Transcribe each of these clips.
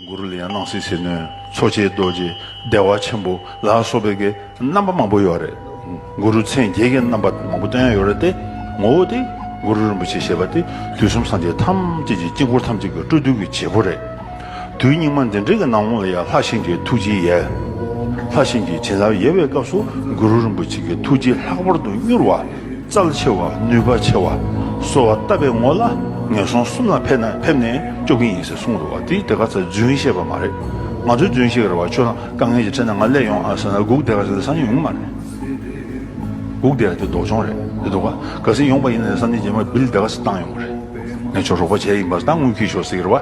གུ་རུ་ལེའི་སྣང་སྲིད་ཟིལ་གནོན་མཚོ་སྐྱེས་རྡོ་རྗེ་བདེ་བ་ཆེན་པོ་ལ་སོགས་པའི་རྣམ་པ་མང་པོ་ཡོད་རེད། གུ་རུ་མཚན་བརྒྱད་ཀྱི་རྣམ་པ་མང་པོ་བསྟན་ཡོད་རེད་དེ། ངོ་བོ་དེ་གུ་རུ་རིན་པོ་ཆེ་ཞེས་པ་དེ་དུས་གསུམ་སངས་རྒྱས་ཐམས་ཅད་ཀྱི་དཀྱིལ་འཁོར་ཐམས་ཅད་ཀྱི་སྤྲོ་བསྡུ་བའི་བྱེད་པོ་རེད། དུས་སྙིགས་མ་འདི་འདྲའི་ནང་ལོངས་ལ་ཡང་ལྷ་ཤིང་གི་ཐུགས་རྗེའི་ཡལ། ལྷ་ཤིང་གི་བྱིན་རླབས་ཡལ་བའི་སྐབས་སུ་གུ་རུ་རིན་པོ་ཆེ་གི་ཐུགས་རྗེ་ལྷག་པར་དུ་མྱུར་བ། རྩལ་ཆེ་བ་ནུས་པ་ཆེ་བ་གསོ་བ་བཏབ་པའི་ངོ་ལ་ངན་སོང་གསུམ་ལ་ཕེབས་ནས་ཕེབས་ནས་སྐྱོབ་གིན་ཡིན་ཟེར་གསུངས་རུང་བ་དེ་དེ་ག་ཚོད་རྫུན་བཤད་པ་མ་རེད་ང་ཚོའི་རྫུན་བཤད་གི་རེད་བ་ཁྱོད་རང་དཀའ་ངལ་གྱི་ཁྲེལ་ནས་ང་སླེ་ཡོང་ཨ་ཟེར་ན་གུག་དེ་ག་ཟེར་ནས་སང་ཉིན་ཡོང་གི་མ་རེད་གུག་དེ་ག་དེ་ལྡོག་ཆོང་རེད་དེ་ལྡོག་ག་ཟེར་ཡོང་པ་ཡིན་ན་དེ་སང་ཉིན་རྗེས་མ་བིལ་དེ་ག་ཟེར་བཏང་ཡོང་གི་རེད་ངས་ཆོག་རོགས་པ་བྱས་ཡིན་པ་ད་དངུལ་ཁྱེར་ཤོག་ཟེར་གི་རེད་བ།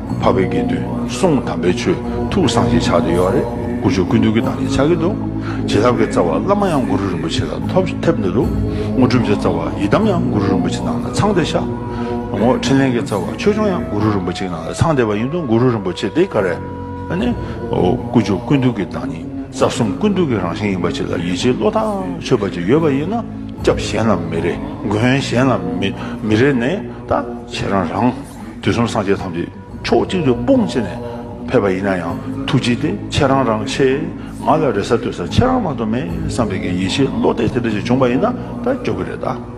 འཕགས་པའི་དགེ་འདུན་གསུང་དམ་པའི་ཆོས་ཐུགས་གསང་ཞེས་ཕྱག་ཏུ་ཡོད་རེད་ཀུ་ཅོ་ཀུན་འདུས་ཀྱི་ནང་ནས་ཕྱག་གི་འདུག་རྗེ་ཐབས་མཁས་རྩ་བ་བླ་མ་ཡང་གུ་རུ་རིན་པོ་ཆེ་ལ་ཐོབ་ཐབས་ནི་འདུག་ངོ་སྒྲུབ་བྱ་རྩ་བ་ཡི་དམ་ཡང་གུ་རུ་རིན་པོ་ཆེ་ནང་ལ་ཚང་སྟེ་ཤ་ངོ་ཕྲིན་ལས་མཁས་རྩ་བ་ཆོས་སྐྱོང་ཡང་གུ་རུ་རིན་པོ་ཆེ་ནང་ལ་ཚང་སྟེ་བ་ཡིན་འདུག་གུ་རུ་རིན་པོ་ཆེ་འདི་ག་རེ་ནི་ཀུ་ཅོ་ཀུན་འདུས་ཀྱི་བདག་ཉིད་རྩ་གསུམ་ཀུན་འདུས་ཀྱི་རང་བཞིན་ཡིན་པ་ཅིག་ལ་ཡིད་ཆེས་བློ་ཐག་ཆོད་པ་ཅིག་ཡོད་པ་ཡིན་ན་སྐྱབས་གཞན་ལ་མི་རེ་མགོན་གཞན་ལ་མི་རེ་ནས་ད་ཁྱེད་རང་རང། དུས་གསུམ་སངས་རྒྱས་ཐམས་ཅད་ཕྱོགས་གཅིག་ཏུ་དཔུང་བཅས་ནས་ཕེབས་པ་ཡིན་ན་ཡང་ཐུགས་རྗེ་དེ་ཁྱེད་རང་རང་ཆེ། ང་ལ་རེ་ས་ལྟོས་ས་ཁྱེད་རང་མ་གཏོགས་མེད་བསམ་པའི་གི་ཡེ་ཤེས་བློ་གཏད་དེ་འདྲ་ཞིག་བྱུང་པ་ཡིན་ན་ད་སྐྱོ་གི་རེད་ད།